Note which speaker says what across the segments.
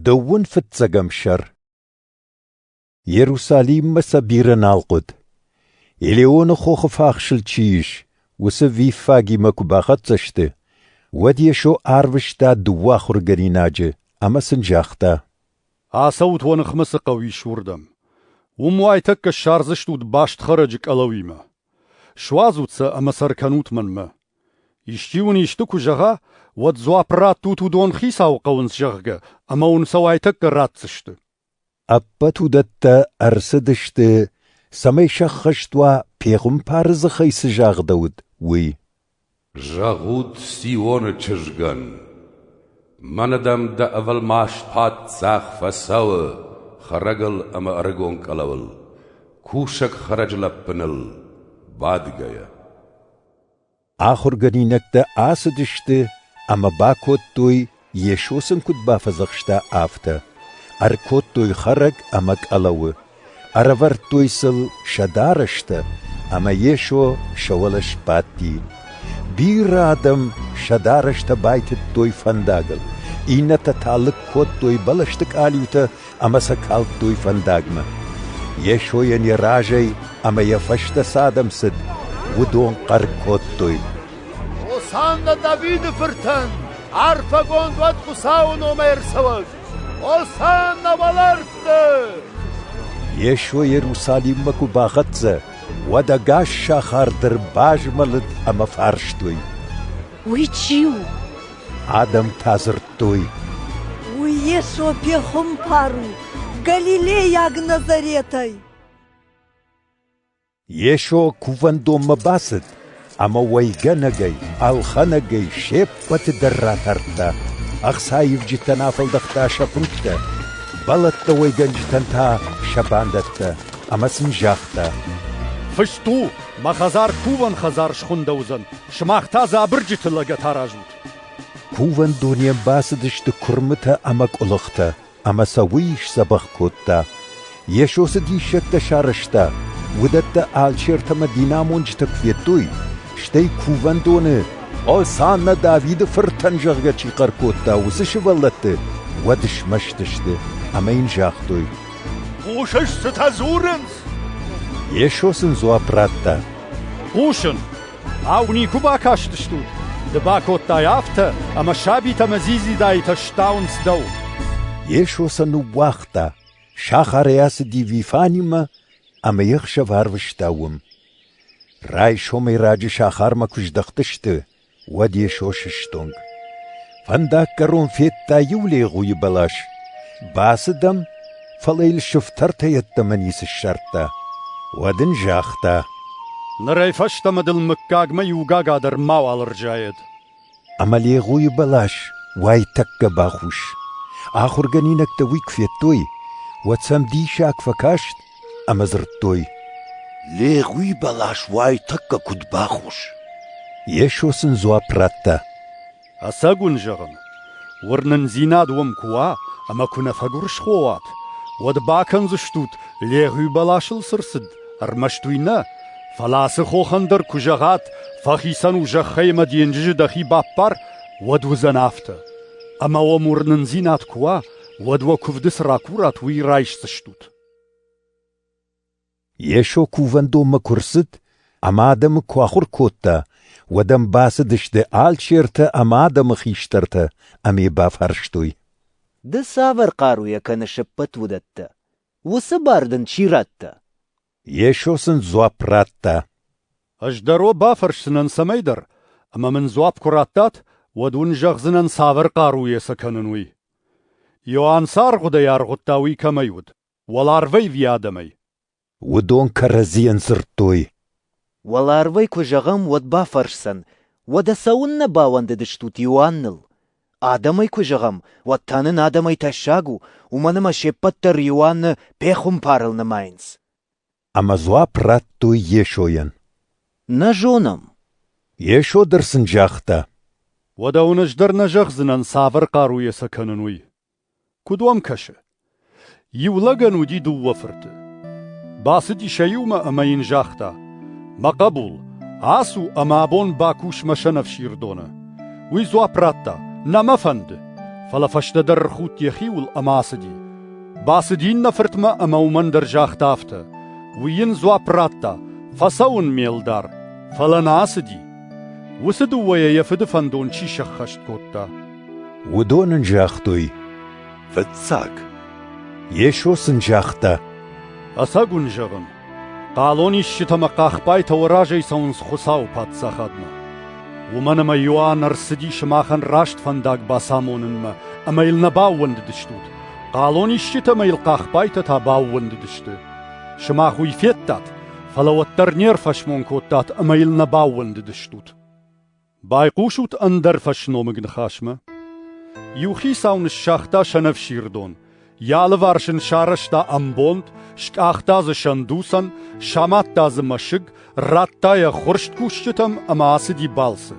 Speaker 1: Дыууын фыццӕгӕм сӕр Иерусалиммӕ сӕ бирӕ нал хъуыд. Елеоны хохы фахсыл чи ис, уыцы виффагимӕ куы бахӕццӕ сты, уӕд Йесо арвыста дыууӕ ахуыргӕнинаджы ӕмӕ сын загъта: «Ацӕут
Speaker 2: уӕ ныхмӕ цы хъӕу ис, уырдӕм. Уым уайтӕккӕ ссардзыстут баст хӕрӕджы къӕлӕуимӕ. Суадзут сӕ ӕмӕ сӕ ркӕнут мӕнмӕ. Исчи уын исты куы зӕгъа, уӕд дзуапп раттут уыдон хицауы хъӕуынц, зӕгъгӕ, ӕмӕ уын сӕ уайтӕккӕ ратдзысты. Ӕппӕт
Speaker 1: уыдӕттӕ ӕрцыдысты, цӕмӕй сӕххӕст уа, пехуымпары дзыхӕй цы загъдӕуыд, уый. Зӕгъут
Speaker 3: Сионы чызгӕн: мӕнӕ дӕм дӕ ӕвӕлмас паддзах фӕцӕуы хӕрӕгыл ӕмӕ ӕрыгон къӕлӕуыл, кусӕг хӕрӕджы лӕппыныл бадгӕйӕ.
Speaker 1: Ахуыргӕнинӕгтӕ ацыдысты ӕмӕ бакодтой Йесо сын куыд бафӕдзӕхста, афтӕ: Ӕркодтой хӕрӕг ӕмӕ къӕлӕуы, ӕрӕвӕрдтой сыл сӕ дарӕстӕ, ӕмӕ Йесо сӕ уӕлӕ сбадти. Бирӕ адӕм сӕ дарӕстӕ байтыдтой фӕндагыл, иннӕтӕ та лыг кодтой бӕлӕсты къалиутӕ ӕмӕ сӕ калдтой фӕндагмӕ. Йесойӕн йӕ разӕй ӕмӕ йӕ фӕстӕ цы адӕм цыд, уыдон хъӕр кодтой. «Хосанна
Speaker 4: Давиды фыртӕн! Арфӕгонд уӕд Хуыцауы номӕй ӕрцӕуӕг! Хосанна уӕлӕрвты!» Йесо
Speaker 1: Иерусалиммӕ куы бахӕццӕ, уӕд ӕгас сахар дӕр базмӕлыд ӕмӕ фарстой. Уый
Speaker 5: чи у?
Speaker 1: Адӕмтӕ дзырдтой. Уый
Speaker 5: Йесо пехуымпар у, галилейаг Назаретӕй.
Speaker 1: Йесо кувӕндонмӕ бацыд ӕмӕ уайгӕнӕгӕй, ӕлхӕнӕгӕй се ппӕты дӕр ратардта. Ӕхцаивджытӕн афӕлдӕхта сӕ фынгтӕ, бӕлӕттӕ уӕйгӕнджытӕн та сӕ бандӕттӕ, ӕмӕ сын загъта: «Фыст
Speaker 2: у, мӕ хӕдзар кувӕн хӕдзар схуындӕуыдзӕн. Сымах та дзы абырджыты лӕгӕт аразут. Кувӕн
Speaker 1: дунейӕн бацыдысты куырмытӕ ӕмӕ къуылыхтӕ, ӕмӕ сӕ уый сдзӕбӕх кодта. Йесо цы диссӕгтӕ сарӕзта, уыдӕттӕ алчертӕ ӕмӕ динамонджытӕ куы федтой, стӕй кувӕндоны, Осанна Давиды фыртӕн, зӕгъгӕ чи хъӕр кодта, уыцы сывӕллӕтты, уӕд смӕстысты ӕмӕ йын загътой: «Хъусыс,
Speaker 4: цытӕ дзурынц?»
Speaker 1: Йесо сын дзуапп радта: «Хъусын.
Speaker 2: Ау, никуы бакастыстут? Ды бакодтай афтӕ, ӕмӕ сабитӕ ӕмӕ дзидзидаитӕ стауынц дӕу. Йесо
Speaker 1: сӕ ныууагъта, сахарӕй ацыди Вифанимӕ ӕмӕ йе хсӕв арвыста уым. Райсомӕй раджы сахармӕ куы здӕхтысты, уӕд Йесо сыстонг. Фӕндаггӕрон федта иу легъуйы бӕлас. Бацыд ӕм, фӕлӕ йыл сыфтӕртӕ йеддӕмӕ ницы ссардта. Уӕд ын загъта: «Нырӕй
Speaker 2: фӕстӕмӕ дыл мыггагмӕ иугага дӕр мауал ӕрзайӕд». Ӕмӕ
Speaker 1: легъуйы бӕлас уайтӕккӕ бахус. Ахуыргӕнинӕгтӕ уый куы федтой, уӕд сӕм диссаг фӕкаст ӕмӕ дзырдтой: «Легъуйы
Speaker 4: бӕлас уайтӕккӕ куыд бахус?» Йесо
Speaker 1: сын дзуапп радта: Ӕцӕг
Speaker 2: уын зӕгъын, уырнындзинад уӕм куы уа ӕмӕ куы нӕ фӕгуырысхо уат, уӕд бакӕндзыстут, Легъуи бӕласыл цы рцыд, ӕрмӕст уый нӕ, фӕлӕ ацы хохӕн дӕр куы зӕгъат, фӕхицӕн у зӕххӕй ӕмӕ денджызы дӕхи баппар, уӕд уыдзӕн афтӕ. Ӕмӕ уӕм уырнындзинад куы уа, уӕд уӕ куывды цы ракурат, уый райсдзыстут.
Speaker 1: Йесо кувӕндонмӕ куы рцыд ӕмӕ адӕмы куы ахуыр кодта, уӕд ӕм бацыдысты алчертӕ ӕмӕ адӕмы хистӕртӕ ӕмӕ йӕ бафарстой. «Ды
Speaker 6: цавӕр хъаруйӕ кӕны се ппӕт уыдӕттӕ? Уыцы бар дын чи радта?» Йесо
Speaker 1: сын дзуапп радта. «Ӕз
Speaker 2: дӕр уӕ бафӕрсдзынӕн цӕмӕйдӕр, ӕмӕ мын дзуапп куы радтат, уӕд уын зӕгъдзынӕн, цавӕр хъаруйӕ сӕ кӕнын, уый. Иоанн цы аргъуыдӕй аргъуыдта, уый кӕмӕй уыд. Уӕларвӕй ви адӕмӕй? Уыдон
Speaker 1: кӕрӕдзийӕн дзырдтой. Уӕларвӕй
Speaker 6: куы зӕгъӕм, уӕд бафӕрсдзӕн, уӕдӕ цӕуыннӕ бауӕндыдыстут Иоанныл? Адӕмӕй куы зӕгъӕм, уӕд та нын адӕмӕй тӕссаг у, уымӕн ӕмӕ се ппӕт дӕр Иоанны пехуымпарыл нымайынц. Ӕмӕ
Speaker 1: дзуапп радтой Йесойӕн. Нӕ
Speaker 6: зонӕм.
Speaker 1: Йесо дӕр сын загъта. Уӕдӕ уын
Speaker 2: ӕз дӕр нӕ зӕгъдзынӕн, цавӕр хъаруйӕ сӕ кӕнын, уый. Куыд уӕм кӕсы? Иу лӕгӕн уыди дыууӕ фырты. Бацыди сӕ иумӕ ӕмӕ йын загъта: «Мӕ хъӕбул, ацу ӕмӕ абон бакус мӕ сӕнӕфсирдоны». Уый дзуапп радта: «Нӕ мӕ фӕнды». Фӕлӕ фӕстӕдӕр ӕрхудт йӕхиуыл ӕмӕ ацыди. Бацыд иннӕ фыртмӕ ӕмӕ уымӕн дӕр загъта афтӕ: «Уый йын дзуапп радта: Фӕцӕуын ме лдар, фӕлӕ нӕ ацыди». Уыцы дыууӕйӕ йӕ фыды фӕндон чи сӕххӕст кодта? Уыдон
Speaker 1: ын загътой: «Фыццаг». Йесо сын загъта: «Ӕцӕг
Speaker 2: уын зӕгъын, Хъалонисджытӕ ӕмӕ хъахбайтӕ уӕ разӕй цӕуынц Хуыцауы паддзахадмӕ. Уымӕн ӕмӕ Иоанн ӕрцыди сымахӕн раст фӕндаг бацамонынмӕ ӕмӕ йыл нӕ баууӕндыдыстут. Хъалонисджытӕ ӕмӕ йыл хъахбайтӕ та баууӕндыдысты. Сымах уый федтат, фӕлӕ уӕддӕр не рфӕсмон кодтат ӕмӕ йыл нӕ баууӕндыдыстут. Байхъусут ӕндӕр фӕсномыг ныхасмӕ. Иу хицау ныссагъта сӕнӕфсирдон, йӕ алыварс ын сарӕзта ӕмбонд, скъахта дзы сӕндуцӕн, самадта дзы мӕсыг, радта йӕ хурсткусджытӕм ӕмӕ ацыди балцы.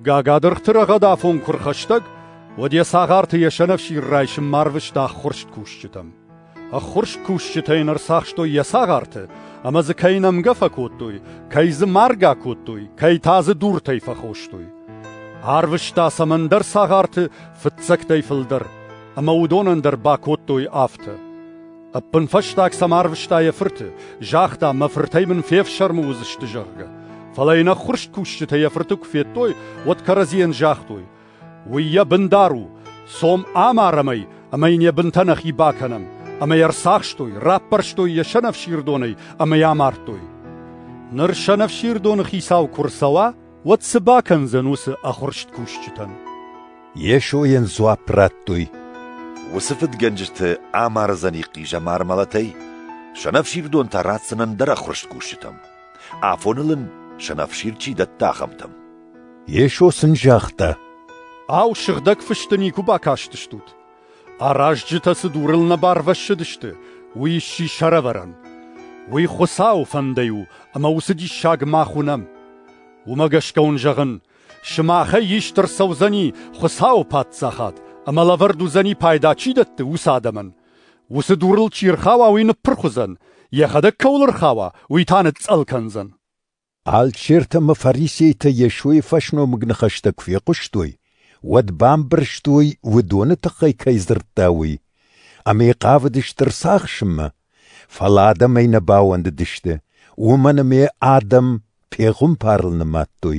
Speaker 2: Гагадыргъты рӕгъӕдафон куы рхӕстӕг, уӕд йӕ цагъарты йӕ сӕнӕфсир райсынмӕ арвыста хурсткусджытӕм. Ӕххуырст кусджытӕ йын ӕрцахстой йӕ цагъарты, ӕмӕ дзы кӕй нӕмгӕ фӕкодтой, кӕй дзы маргӕ кодтой, кӕй та дзы дуртӕй фӕхостой. Арвыста цӕмӕндӕр цагъарты фыццӕгтӕй фылдӕр, ӕмӕ уыдонӕн дӕр бакодтой афтӕ. Ӕппынфӕстаг сӕм арвыста йӕ фырты, загъта, мӕ фыртӕй мын фефсӕрмы уыдзысты, зӕгъгӕ. Фӕлӕ йын ӕххуырст кусджытӕ йӕ фырты куы федтой, уӕд кӕрӕдзийӕн загътой: Уый йӕ бындар у, цом амарӕм ӕй ӕмӕ йын йӕ бынтӕ нӕхи бакӕнӕм. Ӕмӕ йӕ ӕрцахстой, раппӕрстой йӕ сӕнӕфсирдонӕй ӕмӕ йӕ амардтой. Ныр сӕнӕфсирдоны хицау куы рцӕуа, уӕд цы бакӕндзӕн уыцы ӕхуырст кусджытӕн? Йесо
Speaker 1: йын дзуапп радтой. Уыцы
Speaker 4: фыдгӕнджыты амардзӕни хъизӕмар мӕлӕтӕй сӕнӕфсирдон та ратдзӕн ӕндӕр ӕххуырст кусджытӕм. Афоныл ын сӕнӕфсир чи дӕтта, ахӕмтӕм. Йесо
Speaker 1: сын загъта, Ау,
Speaker 2: сыгъдӕг фысты никуы бакастыстут? Аразджытӕ цы дурыл нӕ барвӕссыдысты, уый сси сӕрӕвӕрӕн. Уый Хуыцауы фӕндӕй у, ӕмӕ уыцы диссаг мах уынӕм. Уымӕ гӕсгӕ уын зӕгъын, сымахӕй ист ӕрцӕудзӕни Хуыцауы Паддзахад, ӕмӕ лӕвӕрд уыдзӕни пайда чи дӕтты, уыцы адӕмӕн. Уыцы дурыл чи ӕрхауа, уый ныппырх уыдзӕн, йӕхӕдӕг кӕуыл ӕрхауа, уый та ныцъцъӕл кӕндзӕн. Алчертӕ
Speaker 1: ӕмӕ фарисейтӕ Йесойы фӕсномыг ныхӕстӕ куы фехъуыстой, уӕд бамбӕрстой, уыдоны тыххӕй кӕй дзырдта, уый, ӕмӕ йӕ хъавыдысты рцахсынмӕ. Фӕлӕ адӕм ӕй нӕ бауӕндыдысты, уымӕн ӕмӕ адӕм пехуымпарыл нымадтой.